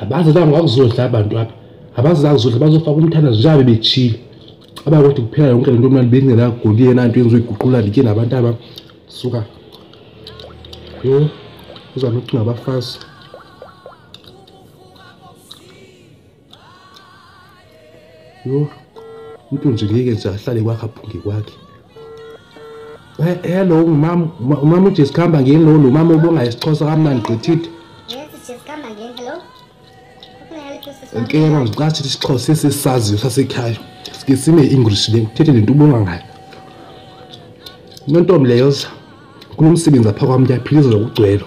abazi la ngakuzodla abantu apha abazi la kuzodla bazofaka umthandazo njengabe bechile aba kodwa kuphela yonke lento manje bengena goliye nanto yenziwe iguqula ndike nabantu aba suka yo uzama ukuthi ngabafazi Yho. Umuntu nje ngeke nje ahlale kwakhe aphunge kwakhe. Eh, hello umama umama uJesu khamba ngeni lo lo mama ubonga isixhosa kamnandi gqithithe. Yes, Jesu khamba ngeni hello. Ngeke ngicathi isixhosa sesisaziyo sasekhaya. Sike sine English le uthethe lento ubonga ngayo. Nontombi leyo kunomsebenzi apha kwami ngiyaphilizwa ngokugcwelo.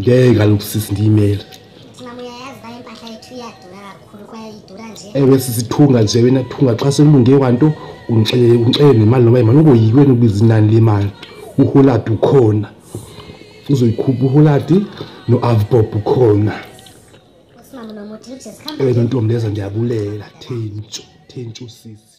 ngeke kaloku sisi ndiyimele ewe sisithunga nje wena thunga xa sekulunge kwanto ungixelele ungixele nemali noba imali ungoyiki wena ubiza inani lemali uholadi ukhona uzoyikhupha uholadi no-avbob ukhona ewe nontombi leza ndiyabulela thentshu thentshu sisi